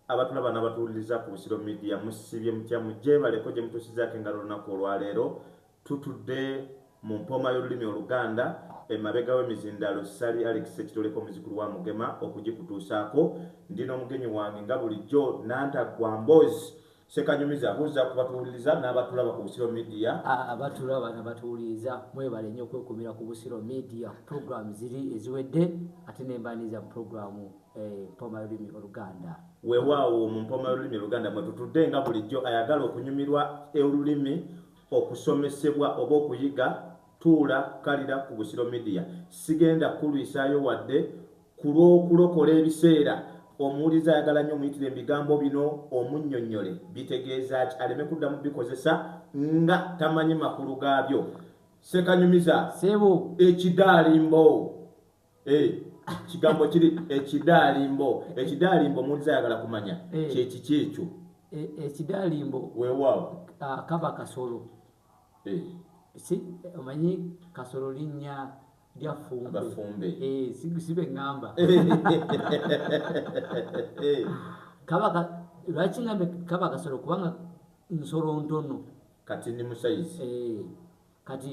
Abatulaba nabatuwuliriza ku Busiro Media musibye mutya mujebaleko gyemutusizaako engalo olunaku olwaleero tutudde mu mpooma y'olulimi oluganda emabega w'emizindaalo Ssali Alex Ssekitoleko muzikulu wa Mugema okugikutuusaako ndi n'omugenyi wange nga bulijjo Nantaggwa Mboozi Sekanyumiza buzza ku batuwuliriza n'abatulaba ku Busiro Media. Abatulaba n'abatuwuliriza mwebale nnyo okwekumira ku Busiro Media. Pulogulaamu ziri eziwedde ate ne mbaniriza mu pulogulaamu eh, Mpoma Lulimi Oluganda. Weewaawo mu Mpoma Lulimi Oluganda mwe tutudde nga bulijjo ayagala okunyumirwa olulimi okusomesebwa oba okuyiga tuula kalira ku Busiro Media. Sigenda kukulwisaayo wadde Ku lw'okulokola ebiseera, omuwuliriza ayagala nnyo omuyitire mu bigambo bino omunnyonnyole bitegeeza ki aleme kuddamu bikozesa nga tamanyi makulu gaabyo. Ssekanyumiza, Ssebo. Ekidaalimbo. Eh, kigambo kiri ekidaalimbo. Ekidaalimbo omuwuliriza ayagala kumanya eh. kye kiki ekyo. Eh, ekidaalimbo. Weewaawo. Ah, kaba kasolo. Eh. Si, omanyi kasolo linnya. abafumbe eh, sibe ŋŋamba eh. kaba lwaki ŋambe kaba kasolo kubanga nsolo ntono kati ndi musayizi eh, kati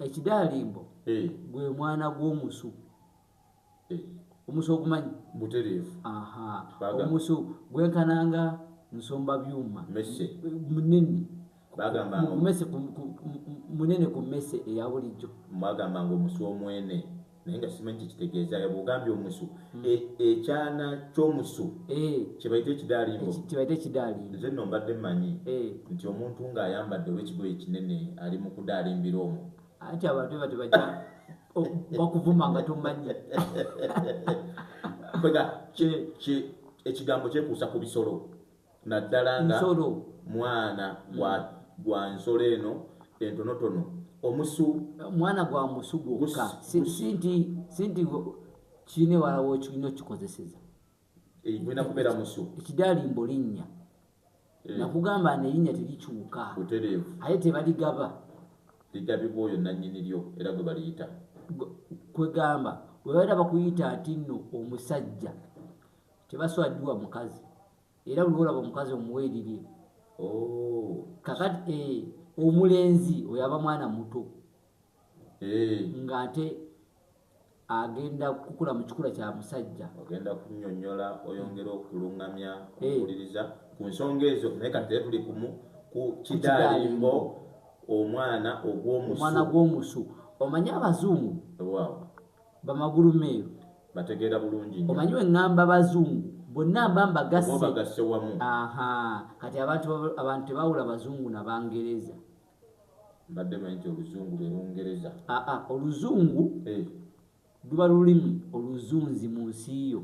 ekidaalimbo gwe mwana gw'omusu omusu ogumanyi butereevu omusu gwenkananga nsomba byuma munene bagamba ngo mese ku munene ku mese eya bulijjo bagamba ngo musu omwene naye nga simanyi kyekitegeeza yaba ogambye omusu hmm. e, ekyana kyomusu eh. kyebaita ekidalimbo kyebaita ekidalimbo nze no mbadde manyi eh. nti omuntu nga ayambadde owekigoye ekinene ali mu kudalimbira omu ati abantu bati baja bakuvuma nga tomanyi kwega ekigambo kyekuusa ku bisolo naddala nga mwana gwa mm. gwa nsolo eno entonotono omusu mwana gwa musu gwokka sinti kiine walawo okirina okikozeseza egwina kubeera musu ekidalimbo linnya eh. nakugamba nerinnya terikyuka butereevu aye tebaligaba ligabibwa oyo nannyini lyo era gwe baliyita kwegamba webaera bakuyita nti nno omusajja Tebaswadiwa mukazi era buli olaba omukazi omuwa erirye oh. kakati eh, omulenzi oyo aba mwana muto eh. nga ate agenda kukula mu kikula kya musajja ogenda kunyonyola oyongera okulungamya eh. okuwuliriza ku nsonga ezo naye kati tee tuli kumu ku kidaalimbo omwana ogw'omusu omwana gw'omusu omanye abazungu wow. Bamagulu meeru. Mbategeera bulungi nnyo. Omanyi bwe ŋŋamba Bazungu, bonna mba mbagasse. Oba obagasse wamu. Aha, kati abantu, abantu tebawula Bazungu na Bangereza. Mbadde manyi nti Oluzungu lwe Lungereza. Aa, Oluzungu, hey. Luba lulimi oluzunzi mu nsi yo.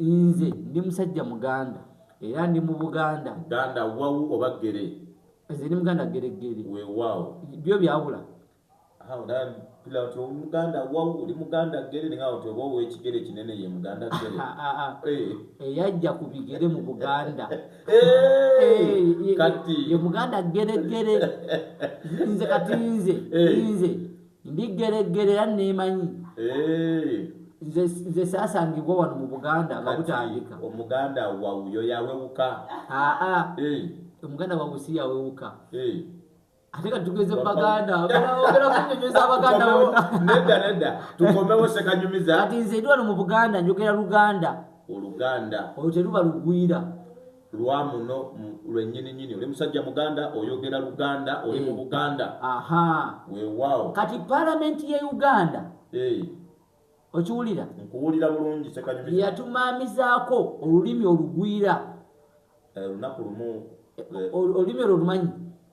Nze ndi musajja muganda era ndi mu Buganda. Ganda wawu oba gere? Nze ndi muganda gere gere. Wewawo. Byo byawula. Awo da pila to muganda wawu oli muganda gere ninga oti oba owekigere kinene ye muganda gere. Ah, ah, ah. Eh. Eyajja ku bigere mu Buganda. Eh, eh, kati. Ye muganda gere gere. Nze kati nze. Nze. ndiggereggere era neemanyi nze nze saasangibwa wano mu buganda nga butandika omuganda wawuyo yawewuka aa omuganda wawuyo si yawewuka ate ka tugeze mu baganda ogera kunyumiza abaganda bona nedda nedda tukomewo sekanyumiza kati nze ndi wano mu buganda njogera luganda oluganda olwo teruba lugwira lwa muno lwenyininyini oli musajja muganda oyogera luganda oli mu eh. buganda wewawo kati palamenti ye uganda eh. okiwulira nkuwulira bulungi yatumaamizaako olulimi olugwira eh, olunaku lumu olulimi olwo olumanyi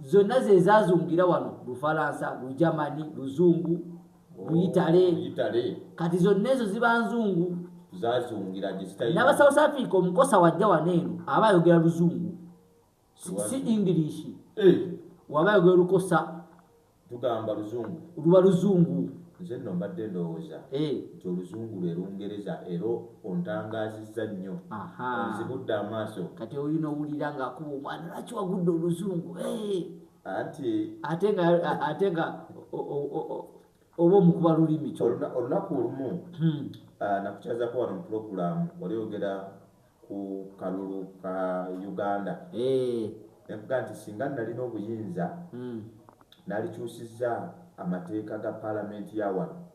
zonna ze zaazungira wano lufalansa lujamani luzungu luyitale oh, yitale kati zonna ezo ziba nzungu zazungira gisitayiri naba south africa omukosa wajja wano eno aba ayogera luzungu si, si english eh. waba ayogera lukosa tugamba luzungu luba luzungu nze nno mbadde ndowooza eh. nti oluzungu lwe lungereza era ontangaazizza nnyo onzibudde amaaso kati oyo nowulira ngaakuba omwana lwaki wagudde oluzungu eh. anti ate nga ate nga oba omukuba lulimi kyo olunaku olumu hmm. ah, nakukyazako wano mupulogulaamu wali ogera ku kalulu ka Uganda ne mvuga nti singa nnalina obuyinza nalikyusizza amateeka ga Palamenti ya wano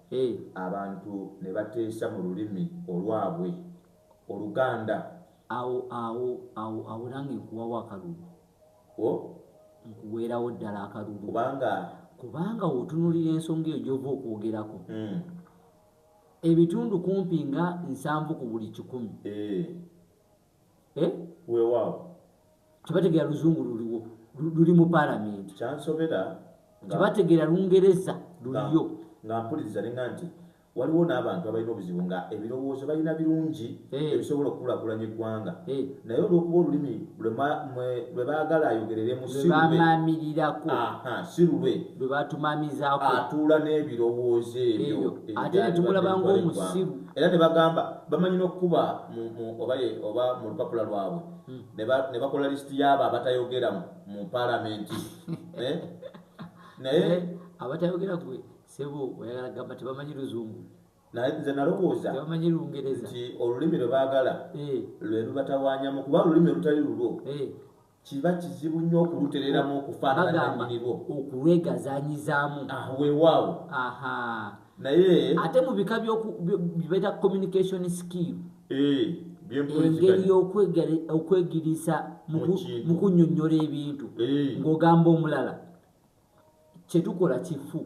abantu ne bateesa mu lulimi olwabwe, Oluganda. Awo, awo, awo, awo nange nkuwawo akalulu. O? Nkuweerawo ddala akalulu. Kubanga. Kubanga w'otunuulira ensonga eyo gy'ova okwogerako. Ebitundu kumpi nga nsanvu ku buli kikumi. Eeh. Eh? Weewaawo. Tebategeera Luzungu luliwo, luli mu Paalamenti. Kyansobera nga. Tebategeera Lungereza luliyo. Nga mpuliriza ne nga nti, waliwo n'abantu abalina obuzibu nga ebirowoozo balina birungi. ebisobola okukulakulanya eggwanga naye olwokuba olulimi lwe baagala ayogereremu sibamamirirako si lulwe lwe batumamizako atuula n'ebirowoozo ebyo ate netumulaba ngaomusiru era ne bagamba bamanyi n'okukuba oba mu lupapula lwabwe hmm. ne bakola lisiti yaabo abatayogera mu palamenti eh? naye abatayogera gwe sebo oyagala gamba tebamanyi luzungu nze nalowooza nti olulimi lwe baagala eh. lwe lubatawaanyamu kuba olulimi olutali lulwo eh. kiba kizibu nnyo okulutereramu okufaanananyinirwo okulwegazanyizaamu ah, weewaawo naye ate mu bika byokubeeta communication skill eh, engeri yokwegiriisa mu kunyonyola ebintu ng'ogamba omulala kyetukola kifu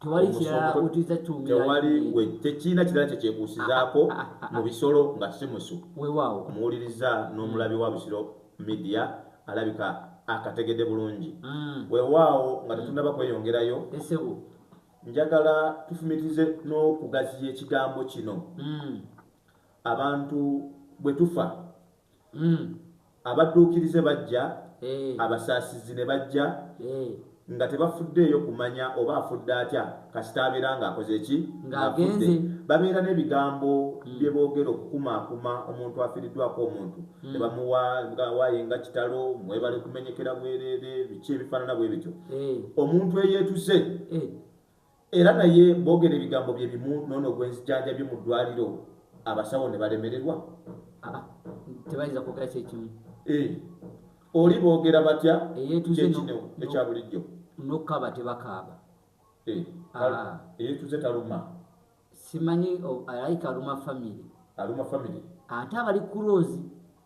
tewali kirala wetuyinza tuwumirtekiina kirala kyekyekuusizaako ah, ah, ah, mu bisolo nga si musu wewaawo omuwuliriza n'omulabi wa busiro midiya alabika akategedde bulungi mm. wewaawo nga tetunaba mm. kweyongerayo njagala tufumitize n'okugaziya ekigambo kino mm. abantu bwe tufa Mm. Abadduukirize bajja, eh. abasaasizi ne bajja eh. nga tebafuddeeyo kumanya oba afudde atya kasita abeera ng'akoze ki ng'afudde babeera n'ebigambo hmm. bye boogera okukumaakuma omuntu afiiriddwako omuntu hmm. ne bamuwa ngawaaye nga kitalo mwebale kumenyekera bwereere biki ebifaanana bwe bityo eh. omuntu eyeetuze eh. Era naye bogera ebigambo bye bimu nono gwenzijanjabye mu dwaliro abasawo ne balemererwa? Aa tebayinza kwogera kyekimu. Eeh oli bogera batya kyekinewo ekya bulijjo. Nokukaba tebakaaba. Eeh eyetuze taluma. Simanyi alaika aluma family. Aluma family. Ate abali kurozi.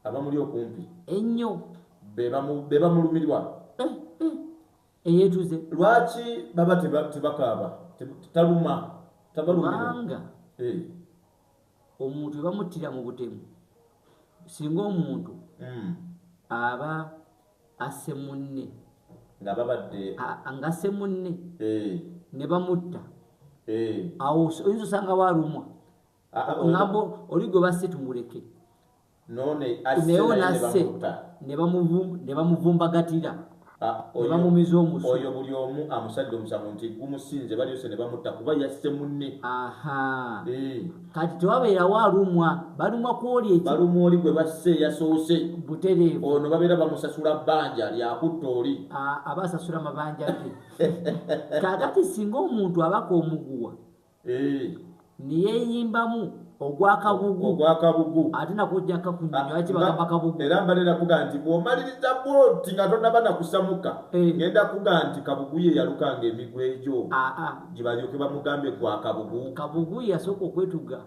Abamuli okumpi. Ennyo. Bebamulumirwa. Eh eh. eyetuze lwaki baba tebakaaba taluma tabalumanga eh. omuntu ebamuttira mu butemu singa omuntu hmm. aba asse munne ngababadde ngasse munne eh. ne bamutta eh. awo oyinza osanga walumwa oŋambo oli gwe basse tumuleke naye onasse ne bamuvumbagatira ah, ne bamumiza omusu oyo buli omu amusadde omusango nti gumusinze balyose ne bamutta kuba yasse munne aha eh. kati tewabeerawo alumwa balumwa kwoli eki balumwa oli gwe basse yasoose butereevu ono babeera bamusasula bbanja lyakutta oli ah, aba asasula mabanja ge kakati singa omuntu abaka omuguwa neyeyimbamu ogwakabugu ogwakabugu ate nakujja kakunyonyoakibagambakabugu era mbalera kuga nti bwomaliriza bwoti nga tonaba nakusamuka ngenda kuga nti kabugu ye yalukanga emigwa egyo gibalyoke bamugambye gwakabugu kabugu yasooka okwetuga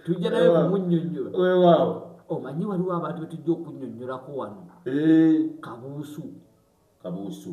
tujja naye kumunyonyola wewaawo omanyi waliwo abantu betujja okunyonyolako wano kabuusu kabuusu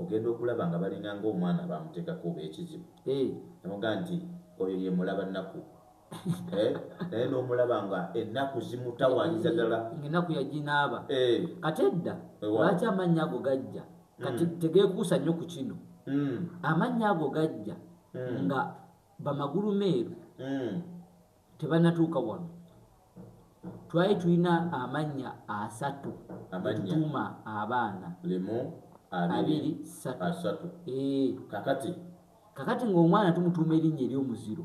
ogenda okulaba nga balinga nga omwana bamutekako oba ekizibu nemuga nti oyo ye mulaba naku naye nomulaba nga enaku zimutawanyisa dala nga enaku yaginaaba kati edda lwaki amannya ago gajja kati tegekuusa nnyo ku kino amannya ago gajja nga bamagulu meeru tebanatuuka wano twali tulina amannya asatu getutuuma abaana limu abiri satu eh. kakati kakati ng'omwana tumutuuma erinnya ery'omuziro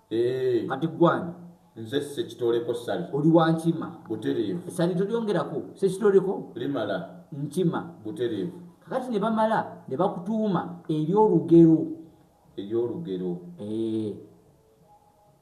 eh. kati gwani nze sekitoleko sali oli wankima butereevu sali tolyongerako sekitoleko limala nkima butereevu kakati ne bamala ne bakutuuma ery'olugero ery'olugero eh.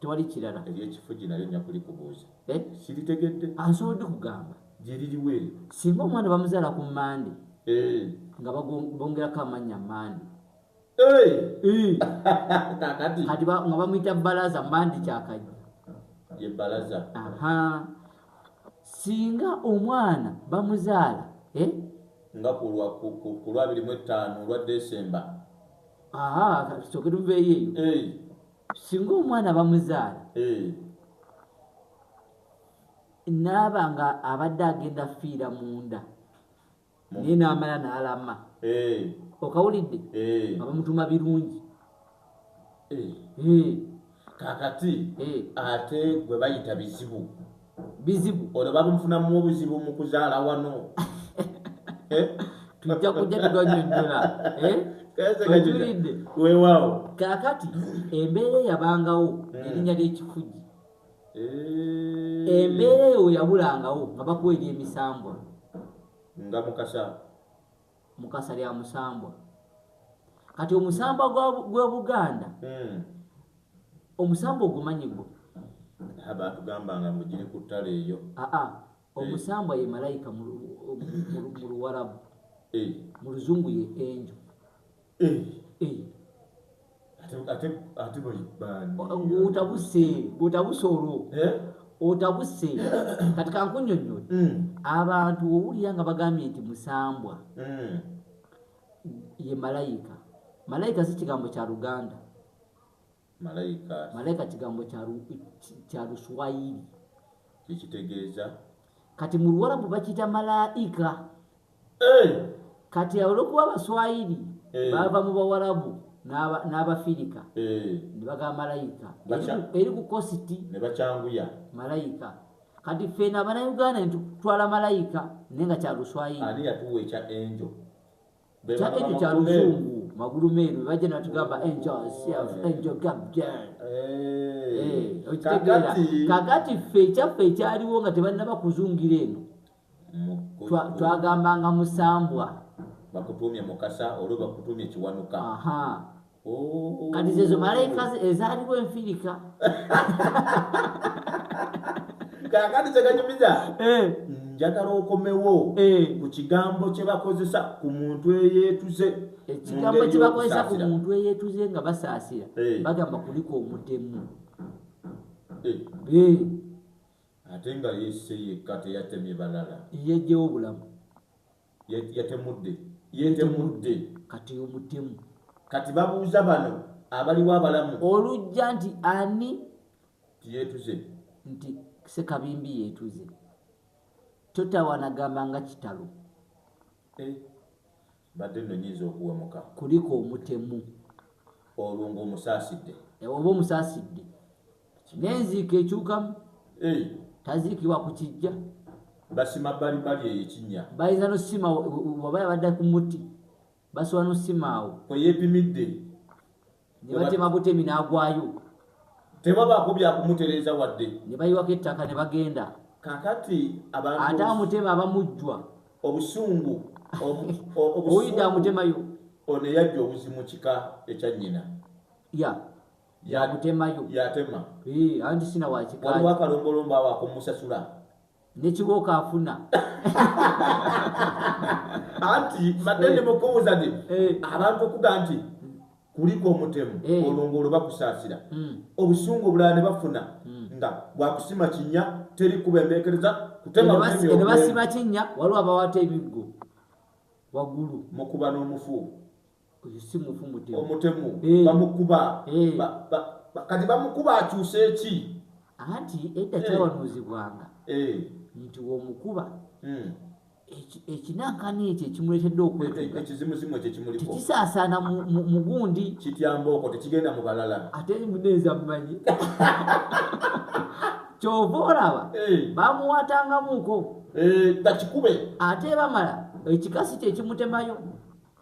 tewali kirala. Ery'ekifugi nalyo nja kulikubuuza. Eh? Siritegedde. Asobodde kugamba. Gye liriwa eryo? Singa omwana bamuzaala ku Mmande. Eh. Nga bongerako amannya Mmande. Eh. Kakati. Kati nga bamuyita Balaza Mmande kyakajja. Ye Balaza. Aha. Singa omwana bamuzaala. Eh? Nga ku lwabiri mu ettaano olwa Desemba. Aha, kyokera uveeyo eyo. Eh. singa omwana bamuzaala eh. naaba nga abadde agenda fiira munda naye namala nalama eh. okawulidde eh. abamutuma birungi kakati ate gwe bayita bizibu bizibu ono bamufunamu obuzibu mu kuzaala wano eh? tujja kujja tetwanyonyola eh? okiridde weewaawo kaakati embeera eyabangawo hmm. erinnya ly'ekifugi eh. embeera eyo weyabulangawo nga bakuwa ery'emisambwa nga mukasa mukasa lya musambwa kati omusambwa gw'obuganda hmm. omusambwa ogumanyi gwe batugambanga mugiri ku ttale eyo aa ah, ah. eh. omusambwa ye malayika mu luwarabu eh. mu luzungu ye enjo otabuse olwo eh? otabuse kati kankunyonyola hmm. abantu owulira nga bagambye nti musambwa hmm. ye malayika malayika si kigambo kya luganda Malaika. Malaika kigambo kya kya Luswahili. Ekitegeeza kati mu Luwarabu bakiyita malaika. Eh! Kati olwokuba Abaswahili eh. bava mu Bawarabu n'Abafirika eh. ne bagamba malaika eri ku kositi ne bakyanguya malaika. Kati ffe n'Abanauganda ne tutwala malaika naye nga kya Luswahili. Ani yatuwa ekya enjo? Betaga ekyo kya luzungu magulu meeru bajja natugamba enjoysiaenjogabdkitegeera kakati ffe ekyaffe ekyaliwo nga tebannaba kuzungira eno twagambanga musambwa bakutumye mukasa olwo bakutumye kiwanuka Oh. kati zezo malayika ezaaliwo enfirika kakati kyekanyumiza eh. njagala okomewo eh. ku kigambo kyebakozesa ku muntu eyeetuze ekigambo kyebakozesa ku muntu eyeetuze nga basaasira eh. bagamba kuliko omutemu ate nga yesse yekka teyatemye balala yejjewo obulamu Yatemudde. Yetemudde. Kati oyo mutemu. Kati babuuza bano abaliwo abalamu. Olujja nti ani? Nti yetuze. Nti Sekabimbi yetuze. Totawana gamba nga kitalo. Eh. Badde no nyinza okuwemuka. Kuliko omutemu. Olwo nga omusaasidde. Eh, oba omusaasidde. n'enziika ekyukamu taziikibwa ku kijja basima bbalibbali eyo ekinnya bayinza nosima waba yabadde ku muti basobola nosima awo kweyepimidde ne batema butemi n'agwayo tebabaako byakumutereeza wadde ne bayiwako ettaka ne bagenda kakati ate amutema abamujjwa obusungu oyidde amutemayo oneyajja obuzimu kika ekya nnyina ya yagutemayo yatema anti sina wakikaliwo akalombolombo awo akomusasula nekibooko afuna anti mbadde ndi mukubuuza nti abantu okuga nti kuliko omutemu olongo olwo bakusaasira hmm. obusungu obulala ne bafuna hmm. nga bwakusima kinya teri kuba embeekereza kutemane basima kinya waliwo abawata ebiggo waggulu mukuba n'omufuuku oyo si mufu mutemu omutemu eh. bamukuba eh. kati bamukuba akyuse eki anti edda eh. kyawanuuzibwanga nti womukuba hmm. ekinankani ekyo ekimuletedde okwekisaasana mu gundi kityambaoko tekigenda mu balala ate muneeza mumanyi kyova olaba bamuwatangamuko bakikube ate bamala ekikasi kyekimutemayo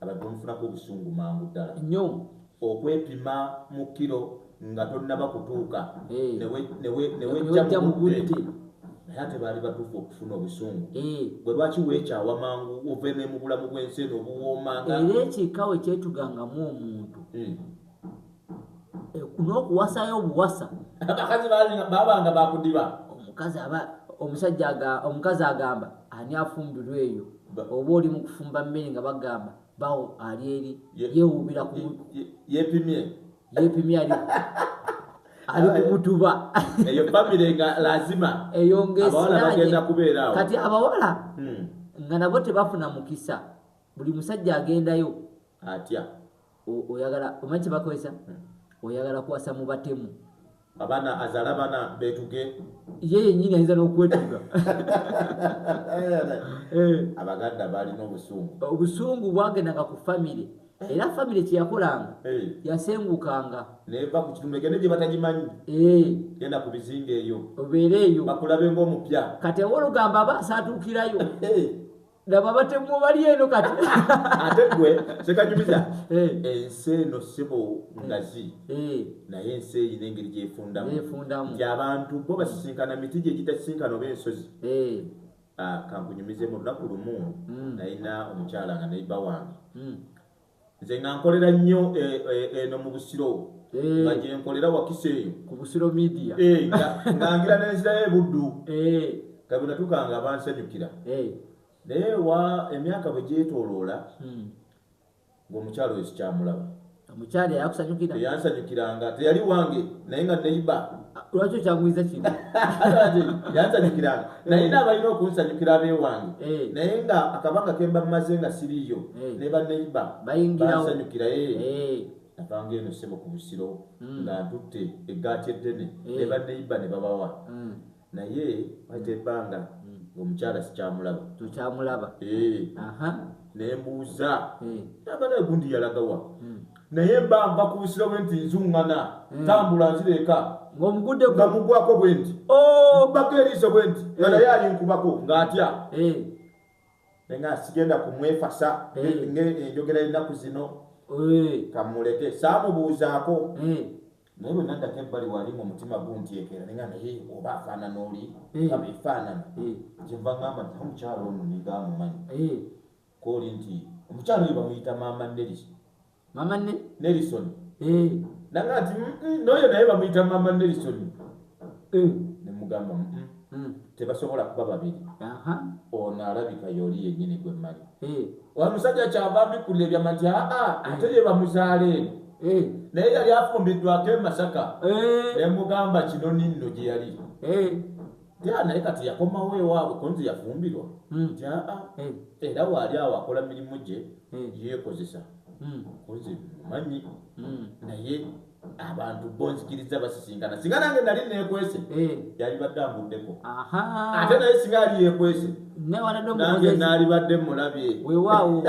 abadde omufunako obusungu mangu ddala nyo okwepima mu kiro nga tonnaba kutuuka eh. newejja mugudde naye ate baali batuufu okufuna obusungu eh. bwe lwaki weekyawa mangu oveeme mu bulamu bw'ensi eno obuwoomanga era ekikawe kyetugangamu omuntu hmm. n'okuwasayo obuwasa abakazi babanga bakudiba omukazi aba omusajja omukazi agamba ani afumbirwa eyo oba oli mu kufumba mmere nga bagamba bawo ali eri yewuubira yepimye yepimye ali ali kumutuba eyo famire nga lazima eyo ngaesiragenda kubeerawo kati abawala hmm. nga nabo tebafuna mukisa buli musajja agendayo atya oyagala omanyi kyebakozesa oyagala kwasa mu batemu abaana azala abaana betuge ye yenyini ayinza n'okwetuga eh. abaganda balina obusungu obusungu bwagendanga ku famire eh. era famire kyeyakolanga eh. yasengukanga neva ku kitundu egende gye batagimanyi genda ku bizinga eyo obeere eyo bakulabe ngaomupya kati ewolugamba aba asaatuukirayo laba batemu bali eno kati ate gwe sekajumiza eh. ensi eno sibo ngazi eh. eh. naye ensi eyina engeri gyefundamu nti abantu bo basisinkana miti gyegitasisinkana oba ensozi ah, kankunyumizemu olunaku lumu mm. nayina omukyala nga nayiba wange mm. nze nga nkolera nnyo eh, eh, eno mu busiro eh. nga gyenkolera wakisa eyo ku busiro media nga ngira nenzirayo ebuddu kabinatuka nga bansanyukira naye wa emyaka bwe gyetoloola hmm. ngaomukyalo wesikyamulaba omukyalo yakusanyukira yansanyukiranga teyali wange naye nga neyiba lwaki okyagumiza kino yansanyukira naye eh. naabalina okunsanyukira abewange eh. naye nga akabanga kemba mumaze nga siriyo eh. ne baneiba bansanyukira avanga eno sebo ku busiro hmm. nga ntutte eggaati eddene ne baneiba ne babawa hmm. naye waita ebbanga hmm. ngaomukyala sikyamulaba tokyamulaba nembuuza abana gundi yalagawa naye mba nva ku busiro bwe nti nzuŋŋana hmm. tambula nzira eka nga mugwako bwe nti oh! bako eriiso bwe nti nga eh. naye alinkubako ng'atya eh. naye nga sigenda kumwefasa eh. ngaenjogera ennaku zino kamuleke saamubuuzaako naye bwe naddako ebbali wali mu mutima guntyekera naye nga naye oba afaanana oli nga befaanana kyenva ŋamba nti omukyalo ono ninga amumanyi Kooli nti omukyala oyo bamuyita maama Nelson. Maama ne? Nelson. Eh. Nanga ati mm, mm, n'oyo naye bamuyita maama Nelson. Eh. Ne mugamba mm, mm. Mm. Tebasobola kuba babiri. Aha. Ono alabika yoli yennyini gwe mmanyi. Eh. Oyo musajja kyava mbikula ebyama nti aa ah, ah, ate ye bamuzaala eno. Eh. Naye yali afumbiddwako e Masaka. Eh. Ne mugamba kino ninno gye yali. Eh. ya naye kati yakomawo ewaabwe kunzi yafumbirwa hmm. nti aa hmm. era waali awo akola mirimu gye hmm. yeekozesa kunzi manyi naye abantu bonzikiriza basisinkana singa nange nali neekwese yali badde ambuddeko ate naye singa yali yeekwese nange naali badde mulabye wewaawo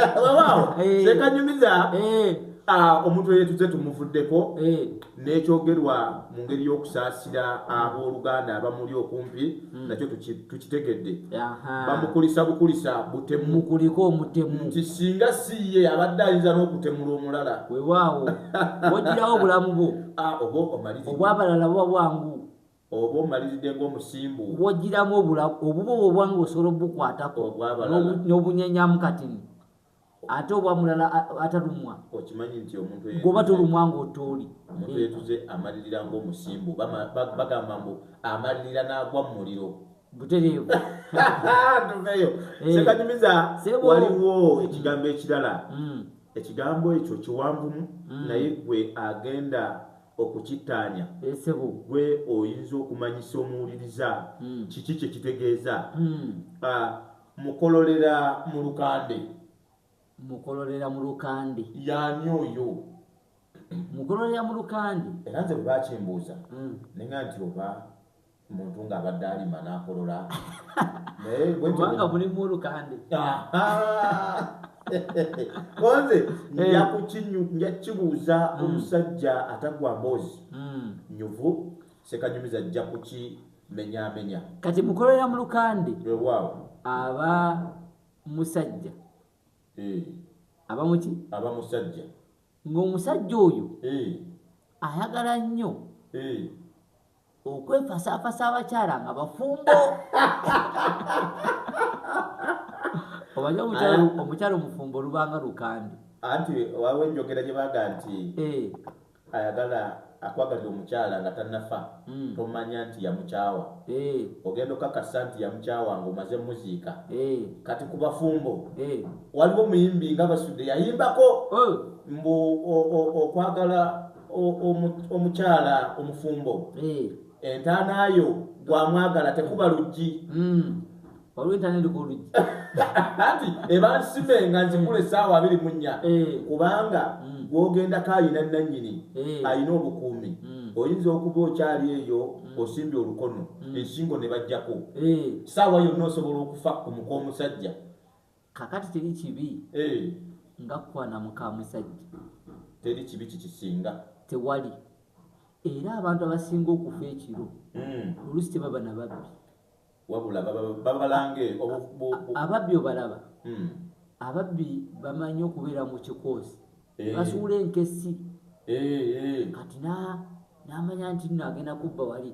sekanyumiza ah, omuntu eyetuze tumuvuddeko n'ekyogerwa mu ngeri y'okusaasira ab'oluganda abamuli okumpi hmm. nakyo tukitegedde bamukulisa bukulisa butemukuliko omutemu nti singa si ye abadde ayinza n'okutemula omulala wewaawo ogirawo obulamu bwo ah, oba omalizi obwabalala buba bwangu oba omaliridde ngaomusimbu wogiramu obulamu obuba obwangu osobola obukwatako n'obunyenyamu katini ate oba mulala atalumwa okimanyi nti omuntu goba tulumwa ngaotooli omuntu yetuze amalirira ngaomusimbu bagamba mbu amalirira n'agwa mu muliro butereevu tuveyo eh. sekanyumiza waliwo ekigambo ekirala mm. ekigambo ekyo kiwanvumu mm. naye gwe agenda okukittaanya esebo eh, gwe oyinza okumanyisa omuwuliriza mm. kiki kyekitegeeza ah, Mukololera mu Lukande. Mukololera mu Lukande. Y'ani oyo? Mukololera mu Lukande. Era nze bwe bakimbuuza hmm. ne nga nti oba muntu ng'abadde alima n'akolola kubanga mulimu olukande konze nja kukinyu nja kibuuza hmm. omusajja atagwa mboozi hmm. nyuvu sekanyumiza ajja kuki menyamenya kati mukolera mu lukande ewaawo aba musajja eh. aba muki aba musajja ng'omusajja oyo eh. ayagala nnyo eh. okwefasaafasa abakyala nga bafumbo obaja omukyala omufumbo olubanga lukande anti wawo enjogera gye baga nti ayagala akwagalira omukyala nga tanafa mm. tomanya nti yamukyawa hey. Eh. ogenda okakasa nti yamukyawa nga omaze muziika hey. Eh. kati ku bafumbo hey. Eh. waliwo muyimbi nga basudde yayimbako oh. mbu okwagala omukyala omufumbo hey. Entaana yo gwamwagala tekuba luggi. Mm. Olw'entaana eri ku luggi. Anti eba nsime nga nzikula essaawa abiri mu nnya. Eh. Kubanga mm. gwogendako alina nnannyini eh. alina obukuumi. Mm. Oyinza okuba okyali eyo mm. osimbye olukono mm. ensingo ne bajjako. Eh. Ssaawa yonna osobola okufa ku muka omusajja. kakati teri kibi eh. nga kukwana mukamusajja teri kibi kikisinga tewali era abantu abasinga okufa ekiro hmm. olusi tebaba nababbi wabula babalange ababbi obalaba hmm. ababbi bamanyi okubeera mu kikoosi eh. basuula enkesi eh, kati namanya nti nagenda kubba wali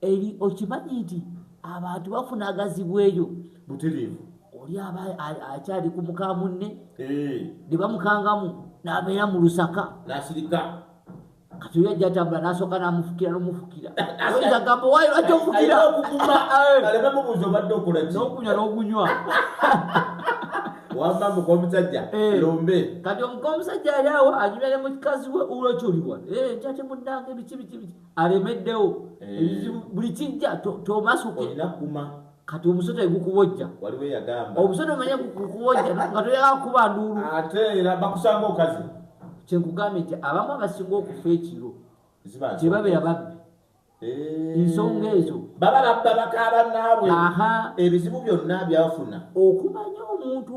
eri okimanyi nti abantu bafuna agazibu eyo butereevu oli aba akyali ku muka munne eh. ne bamukangamu n'abeera mu lusaka n'asirika kati oyo ajja atambula n'asooka n'amufukira n'omufukira oyinza gamba waayo lwaki ofukira n'okunywa n'okunywa wamba muka omusajja eh. lombe kati omuka omusajja ali awo anyumya ne mukikazi we ulokyuliwa eh, nkyate munnange biki biki biki alemeddewo eh. ebizibu buli kijja tomasuke kati omusota egukubojja omusota omanye gukubojja nga toyala kukuba nduulu ate era bakusanga okazi kyenkugambye nti abamu abasinga okufa ekiro tebabeera babbi eh. ensonga ezo baba babba bakaaba naabwe ebizibu byonna byafuna okumanya omuntu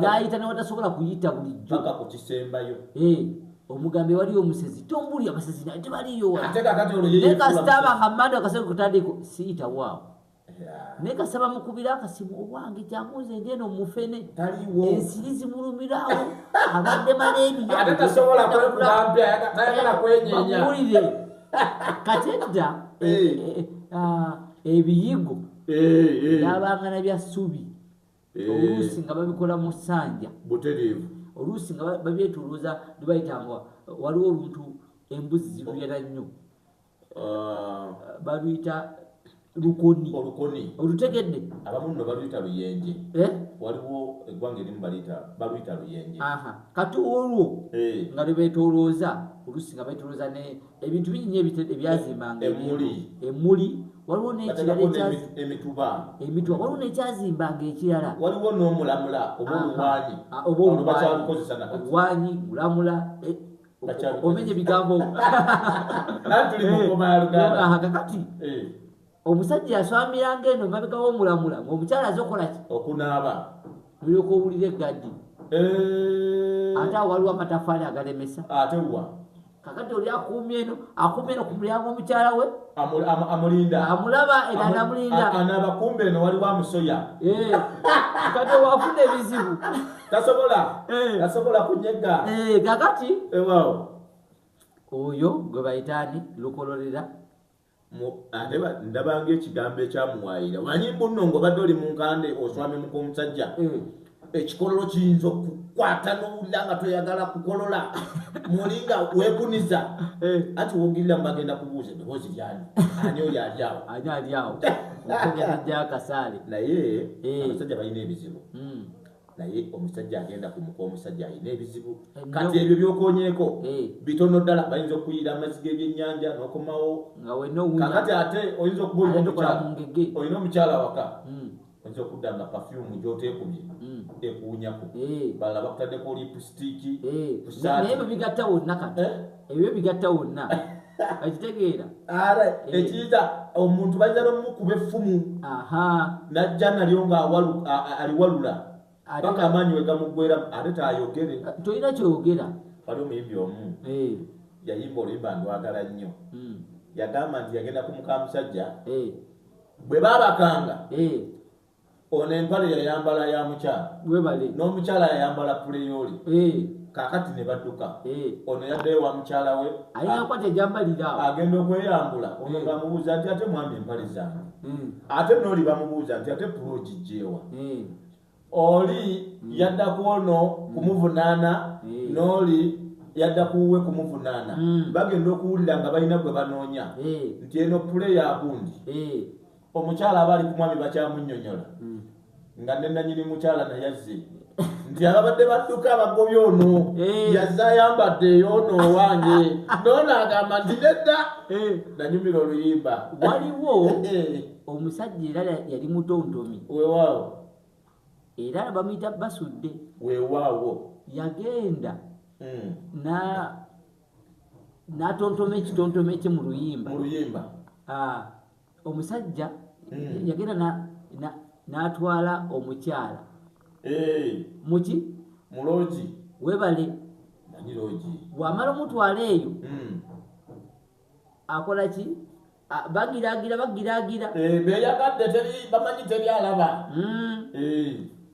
nayita newatasobola kuyita bulijjo paka ku kisembayo eh, omugambe waliyo omusezi tombuli abasezi naye tebaliyo naye kasita abanga manda akaseko kutandiko siyita waawo naye kasaba mukubira akasimu owange kyamuze ndi eno mufene ensiri zimulumirawo abadde maleebiyoulire kati edda eh, eh, ah, ebiyigo yabangana bya subi eh. oluusi nga babikola mu ssanja butereevu oluusi nga babyetuluuza bebayita nga waliwo oluntu embuzi ziruyera nnyo ah. baluyita lukoni olukoni olutegedde abamu no baluyita luyenje eh? waliwo eggwanga erimu baluyita baluyita luyenje kati olwo eh. nga lwebeetolooza oluusi nga beetolooza ebintu bingi nyo ebyazimbanga emuli waliwo nekiralaemituba waliwo nekyazimbanga ekirala waliwo nomulamula obaoluwanyi mulamula e, omenya ebigambo kakati eh. omusajja yaswamiranga eno mabega womulamula ngaomukyala azokolaki okunaaba mulyoka owulira eggadi eh. ate awo waliwo amatafaali agalemesa ate wa kakati oli akuumye eno akuumye eno ku mulyango omukyala we amulinda amulaba era namulinda anaaba kumbe eno waliwo amusoya eh. kati wafuna ebizibu tasobola eh. tasobola kunyega kakati oyo gwe bayitaani lukololera ate ndabanga ekigambo ekyamuwaayira manyi mbunno ngaobadde oli mu nkande oswami muka omusajja mm. ekikololo kiyinza okukwata nowulira nga tweyagala kukolola mulinga wekuniza eh. ati wogirira mubagenda kubuuza eddoboozi lyani ani oyo alyawo ani alyawo okugenda jakasaale naye eh. abasajja balina ebizibu mm. naye omusajja agenda ku muka omusajja alina ebizibu kati ebyo byokonyeko eh. bitono ddala bayinza okuyiira amazzi g'ebyennyanja nokomawo kakati ate oyinza okuba olina omukyala waka hmm. oyinza okudda nga pafyumu gyoteekumye hmm. ekuwunyako eh. balala bakutaddeko lipusitiiki eh. naye byo bigatta wonna kati ebyo bigatta wonna ekitegeera ara ekiyita omuntu bajja nomukuba effumu najja nalyo nga aliwalula paka amaanyi wegamuggwera ate tayogere tolina kyogera wali omuyimbi omu yayimba oluyimba ndwagala nnyo hmm. yagamba nti yagenda ku mukamusajja bwe babakanga ono empale yayambala ya mukyala webale n'omukyala yayambala puleyooli eh. kakati ne badduka eh. ono yaddayo wa mukyala we ayinakwata ejambalira agenda okweyambula ono bamubuuza eh. nti ate mwami empale zange hmm. ate nooli bamubuuza nti ate pula ogijjeewa hmm. oli hmm. yadda ku ono kumuvunaana nooli yadda kuwe kumuvunaana bagenda okuwulira nga balina gwe banoonya nti eno pule yakundi omukyala aba ali ku mwami bakyamunyonyola hmm. nga nenanyini mukyala nayazze nti ababadde badduka abagobye ono eh. yazze ayambadde eyoono owange noono agamba nti nedda eh. nanyumira oluyimba waliwo eh. omusajja era yali mutontomi wewaawo era bamuyita basudde wewaawo yagenda hmm. na natontoma ekitontoma ekye mu luyimba ah. omusajja eh. yagenda n'atwala omukyala eh. muki mulogi webale bwamala omutwala eyo hmm. akola ki bagiragira bagiragira eh, beyagadde bamanyi teri alaba hmm.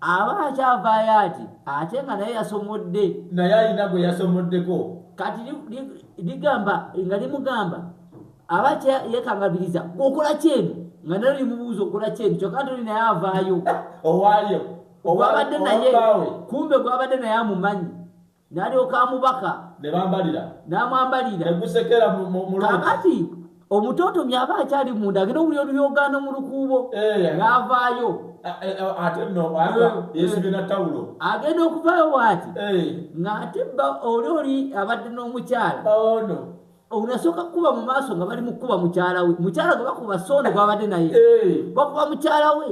aba akyavaayo ati ate nga naye yasomodde naye alina gwe yasomoddeko kati ligamba nga limugamba aba yekangabiriza okola kyeno nga nalo limubuuza okola kyeno kyokka ntoli naye avaayo owaayo ogwabadde naye kumbe gwabadde naye amumanyi n'alyoka amubaka ne bambalira n'amwambalira ne gusekera mu mu- mu loogi. kakati omutotomyi aba akyali munda agenda owulira oluyogaano mu lukuubo Eh. n'avaayo A- eh, eh, ate nno ata Eh, yeesibye na tawulo agenda okuvaayo waati Eh, ng'ate bba oli oli abadde n'omukyala ono unasooka kukuba mu maaso nga bali mukukuba mukyala we mukyala gwe bakuba soono gwabadde naye bakuba mukyala we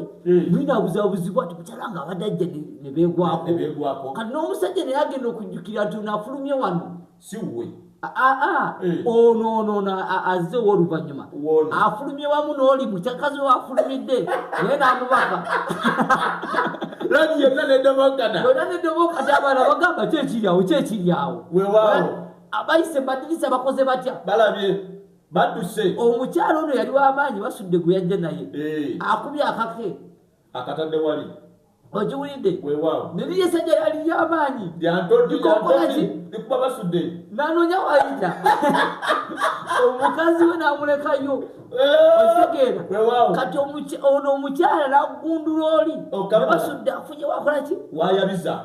mwina buzabuzibu ati mukyala nga abadde ajja ne beegwako kati n'omusajja naye agenda okujjukira nti onafulumye wano siwe ono ono ono azze owoluvannyuma afulumye wamu n'oli mukyakazi we afulumidde naye n'amubaka lagi yonna nedobokata yonna nedobokata abaana bagamba kyekiryawo kyekiryawo wewawo abayise madirisa bakoze batya balabye badduse omukyalo ono yali wamaanyi basudde gwe yajja naye eh. akubye akake akatadde wali ogiwulidde neri yesajja yali yamaanyi lyantoikolaki likuba basudde nanonya wayita omukazi we namulekayo kati ono omukyala nagundula oli basudde afunye wakolaki wayabiza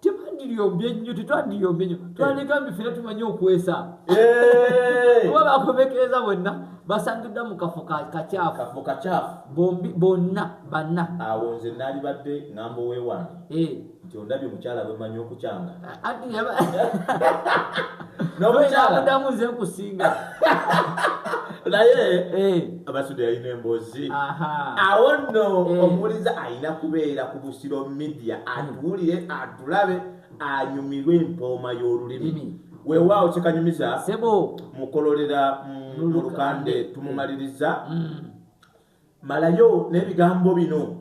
tebandiriyombye nnyo tetwandiyombye nnyo twandika mbi fena tumanyi okwesa kuba bakomekereza bonna basangiddwa mu kafo kakyafu bombi bonna banna awo nze nalibadde ngambo wewange nti ondabye mukyala bwemanyi okukyanga nomudamu nze nkusinga naye eh. abasude yalina embozi awo nno eh. omuwuliza alina kubeera ku busiro media hmm. atuwulire atulabe anyumirwe empooma y'olulimi hmm. wewaawo kyekanyumiza mukololera mu lukande tumumaliriza hmm. malayo n'ebigambo bino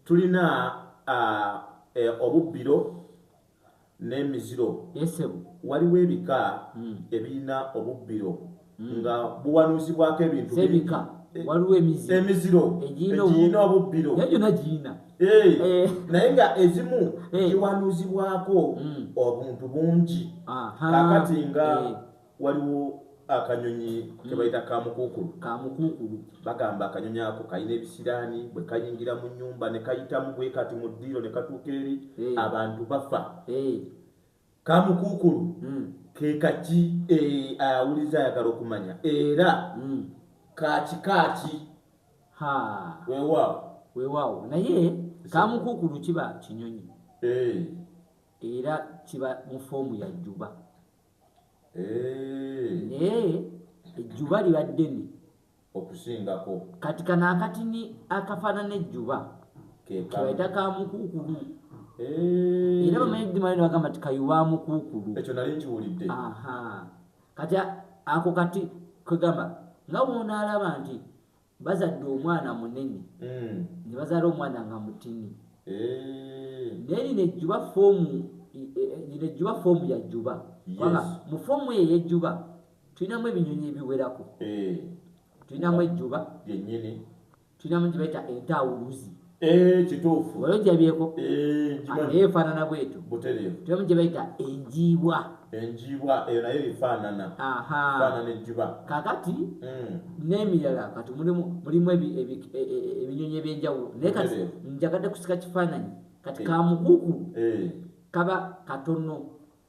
tulina ah, eh, obubbiro n'emiziro. Yes ssebo. Waliwo ebika ebirina obubbiro nga buwanuuzibwako ebintu bingi. Z'ebika. Waliwo emiziro. Emiziro egirina obubbiro. Naye gyonna girina. Eh, naye nga ezimu giwanuuzibwako obuntu bungi. Kakati nga. waliwo akanyonyi kebayita kamukuukulu kamukuukulu bagamba akanyonyi ako kalina ebisiraani bwe kayingira mu nyumba ne kayitamu bwe kati mu ddiiro ne katuuka eri eh. abantu bafa eh. kamukuukulu hmm. ke kaki eh, awuliza ayagala okumanya era hmm. kakikaaki wewaawo wewaawo naye kamukuukulu kiba kinyonyi era kiba mu foomu ya jjuba naye ejjuba liba ddene okusingako kati kano akatini akafaanana ejjuba kebayita ka mukuukulu era bamanyi dimali nebagamba ti kayuba mukuukulu ekyo nali nkiwulidde kati ako kati kwegamba nga bwonaalaba nti bazadde omwana munene mm. ne bazaala omwana nga mutini eh. naye lino ejjuba foomu e, e, e, lino ejjuba foomu ya jjuba kubanga mu foomu eyo eyejjuba tulinamu ebinyonyi ebiwerako eh. tulinamu ejjuba lyenyini tulinamu gye bayita entawuluzi Eh, kituufu wali ojabyeko eh, naye efaanana bwetu temu gye bayita enjiibwa enjiibwa eyo nayo efaanana faanana enjuba kakati hmm. n'emirala kati mulimu e, e, e, ebinyonyi ebyenjawulo naye kati njagadde kusika kifaananyi kati eh. kamukuku kaba katono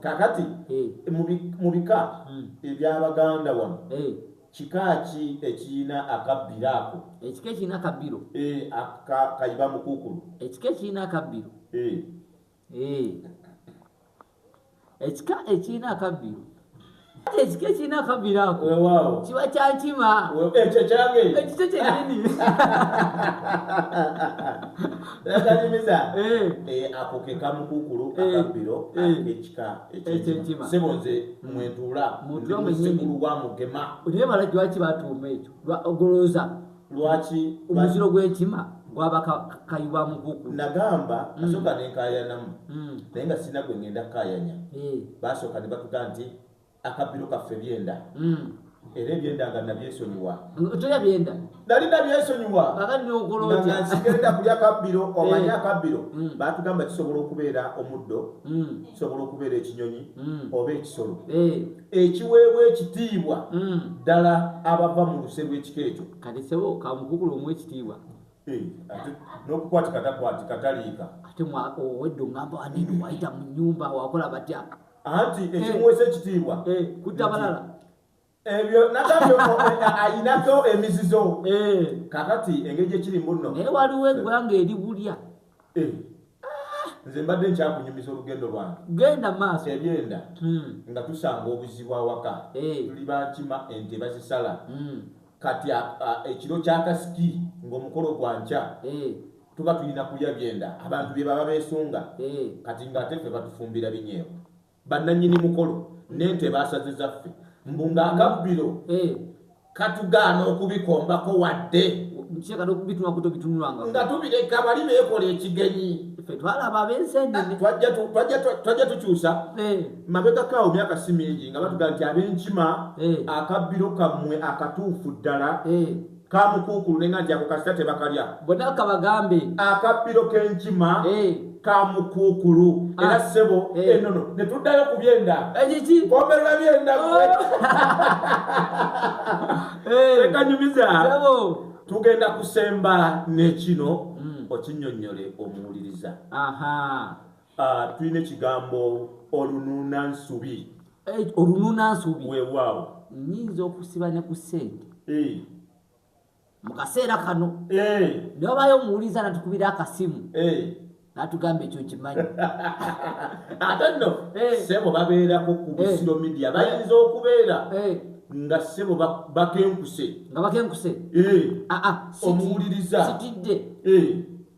kakati mu bika hmm. ebyabaganda wano kika ki ekirina akabbiro ako ekika ekirina akabbiro kayiba mukukulu ekika ekirina akabbiro ekika ekirina akabbiro ekikyo kirina akabira ako kiba kyankima ekyo kyange ekikyo kyenyini kanyumiza akoke kamukukulu akabiro akekika ekyenkima sebo nze mwentuula ndi musekulu wa mugema naye balajwaki batuuma ekyo ogolooza lwaki omuziro gw'enkima gwaba kayiwa mukuku nagamba mm. asooka nenkayanamu mm. naye nga sirina gwe ngenda kukayanya eh. basooka ne batuga nti akabbiro kaffe byenda mm. era ebyenda nga nabyesonyiwa toya byenda nali nabyesonyiwa nsigenda kuli akabbiro eh. omanye akabbiro batugamba kisobola okubeera omuddo kisobola okubeera ekinyonyi oba ekisolo eh. ekiweebwa ekitiibwa mm. ddala abava mu luse lw'ekika ekyo kati sebo kamukukulu omu ekitiibwa eh, nokukwatika takwatika taliika ate owedde ongamba anene wayita mu nyumba wakola batya anti eh. ekimuweesa ekitiibwa eh, kutta balala ebyo nagambye ayinako emizizo kakati engeri gyekiri mbuno naye waliwo eggwanga eri bulya Eh. nze mbadde nkyakunyumiza olugendo lwange genda maaso ebyenda hmm. nga tusanga obuzibu awaka eh. tuli bakima ente bazisala hmm. kati ekiro kyakasiki ngaomukolo gwa nkya eh. tuba tulina kulya byenda abantu byebaba besunga kati ngaate fe batufumbira binyeewo bannanyini mukolo nente basaziza ffe mbu nga akabbiro eh. katugaana okubikombako wadde nga tubireka bali bekola ekigenyi twajja tukyusa eh. mabegakaawo myaka si mingi nga batugaa nti abenkima eh. akabbiro kammwe akatuufu ddala Kamukuukulule nga nti ako kasita tebakalya. Bonna kabagambe. Akabbiro k'enkima. Eeh. kamukuukulu ah. era ssebo eh. enono ne tuddayo ku byenda ekiki eh, komerera byenda oh. eh. tekanyumiza tugenda kusemba nekino hmm. okinyonyole omuwuliriza Ah, tulina ekigambo olunuuna nsubi Eh, olunuuna nsubi weewaawo nyinza okusiba ne ku sente Eh, mu kaseera kano eh, ne wabayo omuwuliza natukubira akasimu eh. natugamba ekyo nkimanyi ate nno Eh. sebo babeerako ku Eh. busiro media bayinza okubeera Eh, nga sebo ba- bakenkuse nga bakenkuse Eh, aa omuwuliriza sitidde Eh,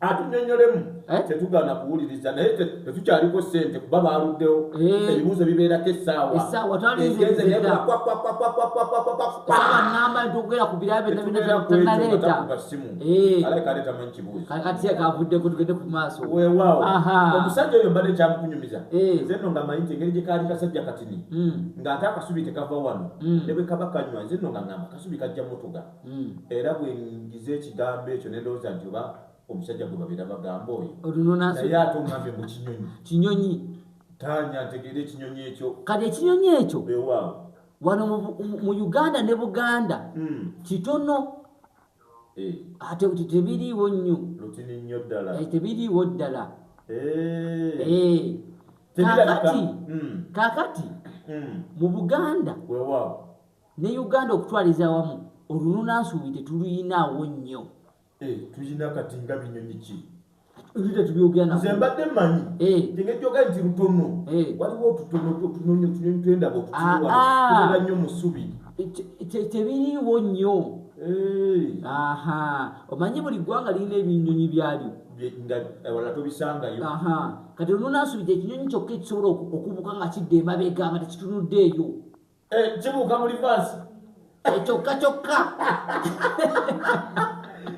atunyonyolemu eh? tetugaana kuwuliriza naye tetukyaliko sente kuba baluddewo eh. ebibuuzo bibeerako essaawaamba ntiogera ku birabyonaaleetakavuddeko eh. tugende ku maaso wewaawo omusajja oyo mbadde kyamukunyumiza nze no nga manyi nti engeri gye kaali kasajja katini hmm. ng'ate akasubi tekava wano hmm. ne bwe kaba kanywa nze no nga ngamba kasubi kajja mutuga mm. era bwenjiza ekigambo ekyo nendowooza nti oba omusajja gwe babeera bagamba oyo naye ate omwami mu kinyonyi kinyonyi tanya ntegeera ekinyonyi ekyo kati ekinyonyi ekyo ewaawo wano mu uganda ne buganda mm. kitono eh. ate kuti tebiriiwo nnyo lutini nnyo ddala eh, tebiriiwo ddala eh. kakati mm. kakati mm. mu buganda wewaawo Ne Uganda okutwaliza awamu olununa nsuubi tetuluyina awo nnyo. Eh, tulina kati nga binyonyi ki? nze mbadde manyi eh. tegejjoga nti lutono eh. waliwo otutono otunonyi otunyonyi twendaba otutuwala ah, ah. nnyo musubi tebiriiwo nnyo eh. aha omanyi buli ggwanga lirina ebinyonyi byalyo wala tobisangayo kati lunonasubija ekinyonyi kyokka ekisobola okubuka nga kidda emabega nga tekitunudde eyo Eh, kibuuka mu livaasi eh, kyokka kyokka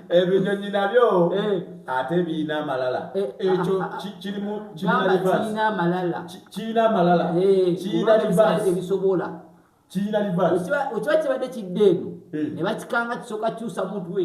ebinyonyi nabyo eh. ate birina amalala ekyo ah, ah, ah. kirimu kirina amalala kirina livaasi ebisobola kirina livaasi okiba kibadde kidde eno ne bakikanga kisooka kyusa mutwe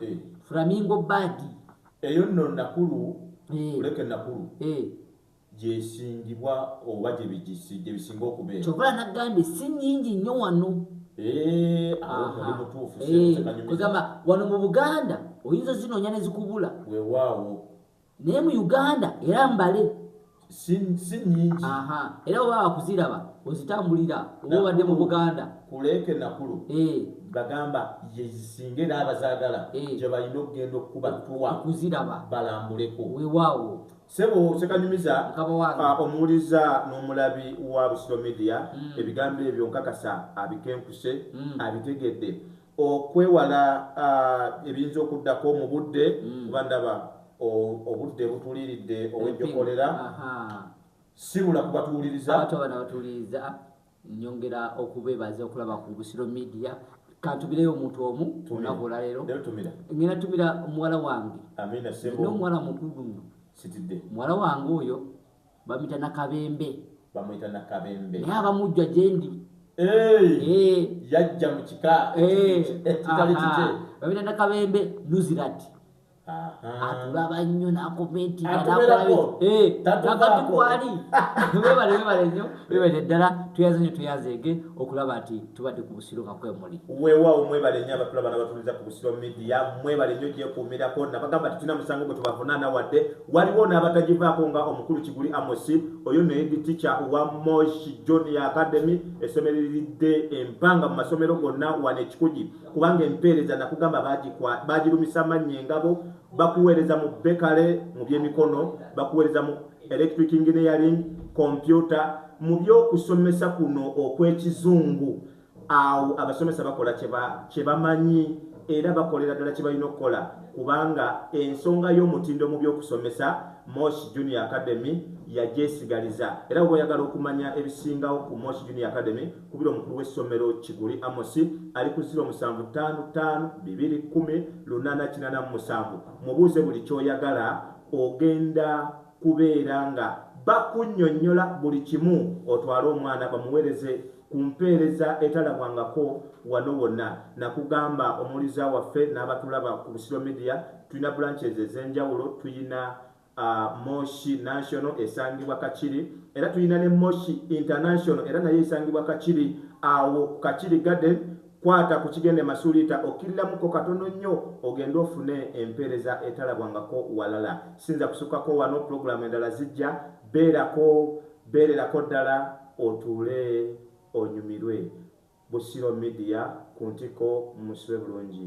eh. flamingo badi eyo nno nakulu eh. kuleke nakulu eh. gyesingibwa oba gyebisinga okubeera kyova nagambye si nyingi nnyo wano kugamba wano mu buganda oyinza zinoonya nezikubula wewaawo naye mu uganda era mbale si nyingi era oba wakuziraba ozitambulira oba obadde mu buganda kuleeke nakulu eh. bagamba yezisinga era abazagala eh. gyebalina okugenda okukuba tuwa kuziraba balambuleko wewaawo sebo sekanyumiza ah, omuwuliza n'omulabi wa busiro media hmm. ebigambo ebyo nkakasa abikenkuse hmm. abitegedde okwewala ebiyinza okuddako mu budde mm. kuba ndaba obudde butuliridde owejjokolera sibula kubatuwuliriza abantu abana batuwuliriza nyongera okubebaza okulaba ku busiro media kantumireyo omuntu omu olunaku olwaleero ngenda tumira muwala wange nomuwala mukulu muno muwala wange oyo bamuyita nakabembe bamuyita nakabembe naye abamujja gyendi yajja mu kika ekitali kike bamuyita nakabembe nuzirat atulaba nnyo nakomentinakatikwali webale webale nnyo webale ddala tuyaze nyo tuyazeege okulaba nti tubadde ku busiro nga kwemuli wewawo mwebale nnyo abatulaba nabatuliza ku busiro media mwebale nnyo gyekuumirako nabagamba titulina musango gwe tubavunaana wadde Waliwo n'abatagivaako nga omukulu Kiguli Amosi, oyo nno ye diticha wa Moshi Junior Academy esomereridde empanga mu masomero gonna wano e Kikugi kubanga empeereza nakugamba baagirumisa mannya engabo bakuweereza mu bekale mu byemikono, bakuweereza mu electric engineering, kompyuta mu by'okusomesa kuno okw'ekizungu. Awo abasomesa bakola kye bamanyi era bakolera ddala kye balina okukola kubanga ensonga y'omutindo mu by'okusomesa Mosh Junior Academy yagyesigaliza era bwe oyagala okumanya ebisingawo ku Mosh Junior Academy kubira omukulu w'essomero Kiguli Amosi ali ku ziro musanvu ttaano ttaano bibiri kkumi lunaana kinaana mu musanvu mubuuze buli ky'oyagala ogenda kubeera nga bakunnyonnyola buli kimu otwale omwana bamuweereze ku mpeereza etalabwangako wano wonna nakugamba omuwuliza waffe n'abatulaba ku Busiro Media tulina branches ez'enjawulo tulina uh, Moshi National esangibwa Kakiri era tulina ne Moshi International era nayo esangibwa Kakiri awo ku Kakiri Garden kwata ku kigende masuliita okkirilamuko katono nnyo ogende ofune empeereza etalabwangako walala sinza kusukako wano pulogulaamu endala zijja beerako beererako ddala Otuule onyumirwe Busiro media ku ntikko musibe bulungi.